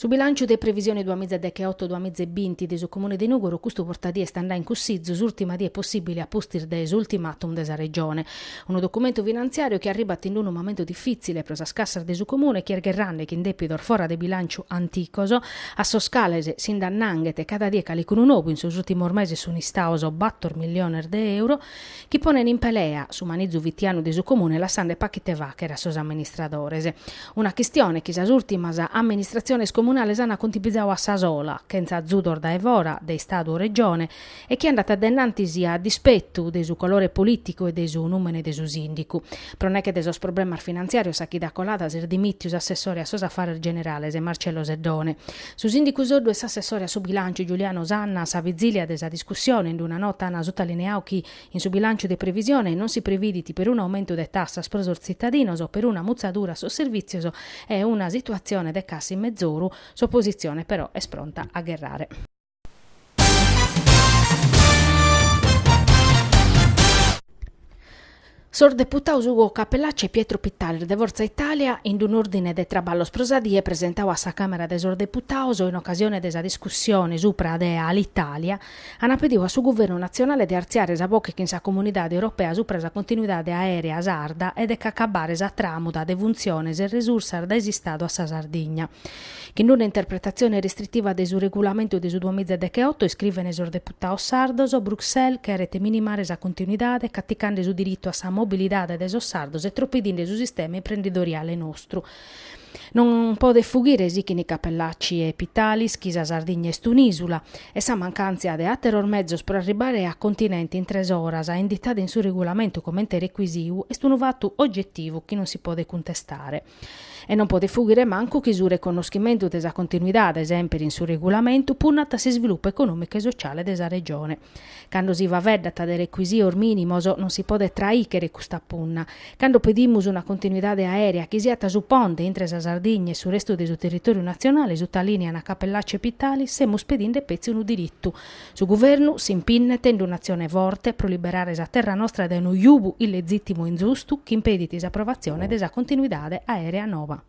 Su bilànciu de previsione duamìza e decheoto duamìza e binti de su Comune de Nùgoro custu bortaedie at a andare in cussizu s'ùrtima die possìbile a pustis de s'ultimatum de sa Regione. Unu documentu finantziàriu chi arribat in unu momentu difìtzile pro sas cassas de su Comune chi est gherrende chin dèpidos fora de bilànciu anticos a sos cales si nd'annanghet cada die calicunu nou, in sos ùrtimos meses sunt istados bator milliones de euro chi ponent in pelea su manizu fitianu de su Comune lassende pacu ite fàchere a sos amministradores. Una chistione chi sas ùrtimas amministratziones comunales ant cuntipizadu a sa sola, chentza azudos dae fora, de Istadu o Regione, e chi andat de innantis a dispetu de su colore polìticu e de su nùmene de su sìndicu. Pro nèche de sos problemas finantziàrios sa chida colada s'est dimìtiu s'assessore a sos afares generales Marcello Seddone, su sìndicu Soddu e s'assessore a su bilànciu Giuliano Sanna, sa vitzìlia de sa discussione in una nota ant sutalineadu chi, In su bilànciu de previsione non si previdit perunu aumentu de tassas pro sos tzitadinos, peruna mutzadura a sos servìtzios e una situatzione de cassa in mezoru. S'opositzione però est pronta a gherrare. Sos deputados Ugo Cappellacci e Pietro Pittalis de Fortza Itàlia, in un'òrdine de traballos pro sa die presentadu a sa Càmera de sos Deputados in ocasione de sa discussione supra de Alitalia, Ant pediu a su Guvernu natzionale de artziare sa boche chin sa Comunidade Europea supra sa continuidade aèrea sarda e de c'acabbare sa tràmuda de funtziones e resursas dae s'Istadu a sa Sardigna. Chin una interpretatzione restritiva de su regulamentu de su duamiza e decheoto iscrivene sos deputados sardos, Bruxelles cheret minimare sa continuidade, caticande su diritu a sa mobilidade de sos sardos e tropedinde su sistema imprendidoriale nostru. Non podet fughire sichint Cappellacci e Pittalis chi sa Sardigna est un'ìsula e sa mancàntzia de àteros mezos pro arribbare a continente in tres oras, inditada in su regulamentu comente recuisiu, est unu fatu ogetivu chi non si podet cuntestare. E non podet fughire mancu chi su reconnoschimentu de sa continuidade, semper in su regulamentu, punnat a s'isvilupu econòmicu e sociale de sa Regione. Cando si faveddat de recuisios mìnimos non si podet traìchere custa punna. Cando pedimus una continuidade aèrea chi siat su ponte intre sa Sardigna e su restu de su territòriu natzionale, sutalìniant Cappellacci e Pittalis, semus pedinde petzi unu diritu. Su Guvernu s'impinnet in un'atzione forte pro liberare sa terra nostra dae unu jubu illegìtimu e inzustu chi impedit s'aprovatzione de sa continuidade aèrea nova.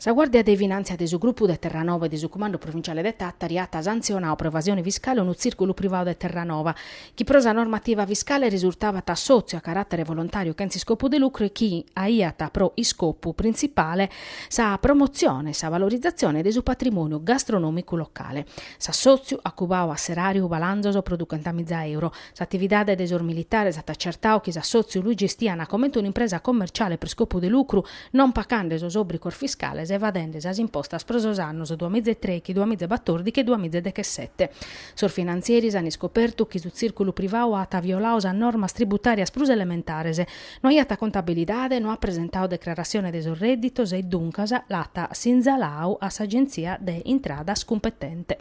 Sa Guàrdia de Finàntzia de su grupu de Terranova e de su Cumandu Provinciale de Tàtari at santzionau pro evasione fiscale unu tzìrculu privadu de Terranova chi pro sa normativa fiscale risurtabat assòtziu a caràtere volontàriu chentz iscopu de lucru e chi aiat pro iscopu printzipale sa promotzione e sa valorizatzione de su patrimòniu gastronòmicu locale. S'assòtziu at cubau a s'eràriu balanzos pro duchentamiza euro, S'atividade de sos militares at acertau chi s'assòtziu lu gestiat comente un'impresa commerciale pro iscopu de lucru, non pachende sos òbricos fiscales e evadinde sas impostas pro sos annos duamìgia e trechi, duamìgia e batòrdichi e duamìgia e dechesete. Sos finantzieris an iscopertu chi su tzìrculu privau at violau sas normas tributàrias prus elementares, no iat contabilidade, no at presentau declaratzione de sos rèdditos e, duncas, l'at sinzalau a s'agèntzia de intradas cumpetente.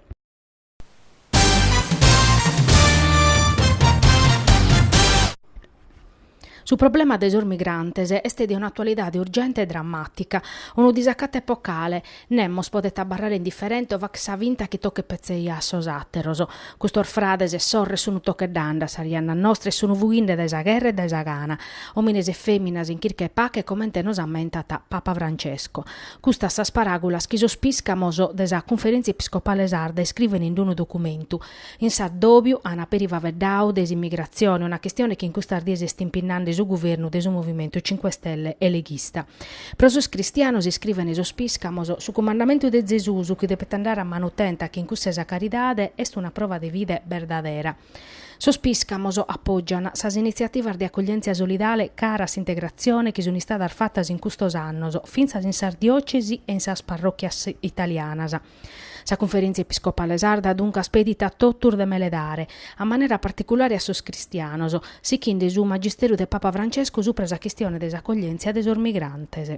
Su problema de sos migrantes est de un'atualidade urgente e drammàtica. Unu disacatu epocale, nemos podet abarrare indiferente o fàcher sa finta chi tochet petzi a sos àteros. Custos frades e sorres sun tocheddande a sas jannas nostras e sun fughinde dae sa gherra e dae sa gana. Òmines e fèminas in chirca 'e pache, comente nos ammentat Papa Francesco. Custas sas paràgulas chi sos pìscamos de sa Cunferèntzia Episcopale Sarda iscrivent in d'unu documentu. In s'addòbiu an peri faveddau de s'immigratzione, una chistione chi in custas dies est impinnande su guvernu de su Movimentu Cinque Stelle e leghista. Pro sos cristianos, iscrivent sos pìscamos, su cumandamentu de Zesus chi depet andare a manu tenta chin cussu 'e sa caridade est una prova de fide berdadera. Sos pìscamos apògian sas initziativas de acoglièntzia solidale cara a s'integratzione chi sunt istadas fatas in custos annos, fintzas in sas diòtzesi e in sas parròchias italianas. Sa Cunferèntzia Episcopale Sarda duncas pedit a totus de meledare, a manera particulare a sos cristianos, sichende su magisteru de Papa Francesco supra sa chistione de s'acoglièntzia de sos migrantes.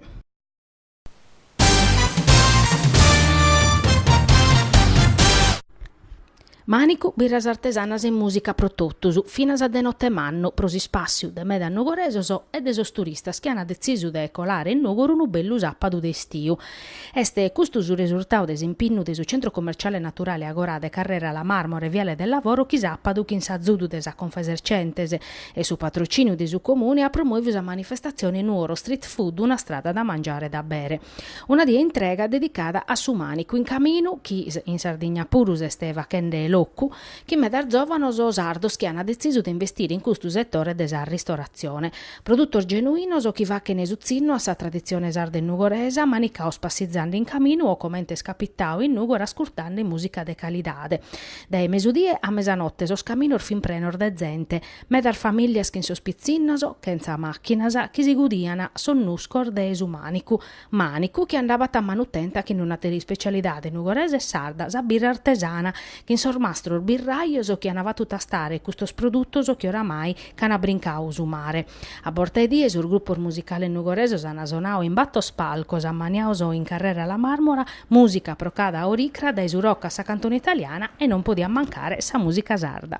Mànicu, birras artesanas e mùsica pro totus, finas de note manna, pro s'ispàssiu de medas nugoresos e de sos turistas chi ant detzisu de colare in Nùgoro unu bellu sàpadu de estiu. Est custu su resurtadu de s'impinnu de su Centro Commerciale Naturale Agorà de Carrera Lamarmora e Viale del Lavoro chi sàpadu chin s'azudu de sa Confesercentes e su patrocìniu de su Comune at promòviu sa manifestatzione Nuoro Street Food una strada da mangiare e da bere. Una die intrega dedicada a su mànicu in caminu chi in Sardigna puru s'est fachende locu, chin medas zòvanos sardos chi ant detzisu de investire in custu setore de sa ristoratzione. Produtos genuinos chi fachent su tzinnu a sa traditzione sarda e nugoresa, manicaos passizande in caminu o comente est capitau in Nùgoro ascurtande mùsica de calidade. Dae mesudie a mesanote sos caminos fin prenos de zente, medas famìlias chin sos pitzinnos, chentza màchinas, chi si gudian sos nuscos de su mànicu, mànicu chi andabat a manu tenta chin d'un'àtera ispecialidade nugoresa e sarda, sa birra artesana, chin sos mastros birrajos chi an fatu tastare custos produtos chi oramai Ch'ana brincau su mare. A borta 'e die sos grupos musicales nugoresos ana sonau in bator palcos ammaniados in Carrera La Marmora, musica pro cada oricra dae su rock a sa cantone italiana e non podiat mancare sa musica sarda.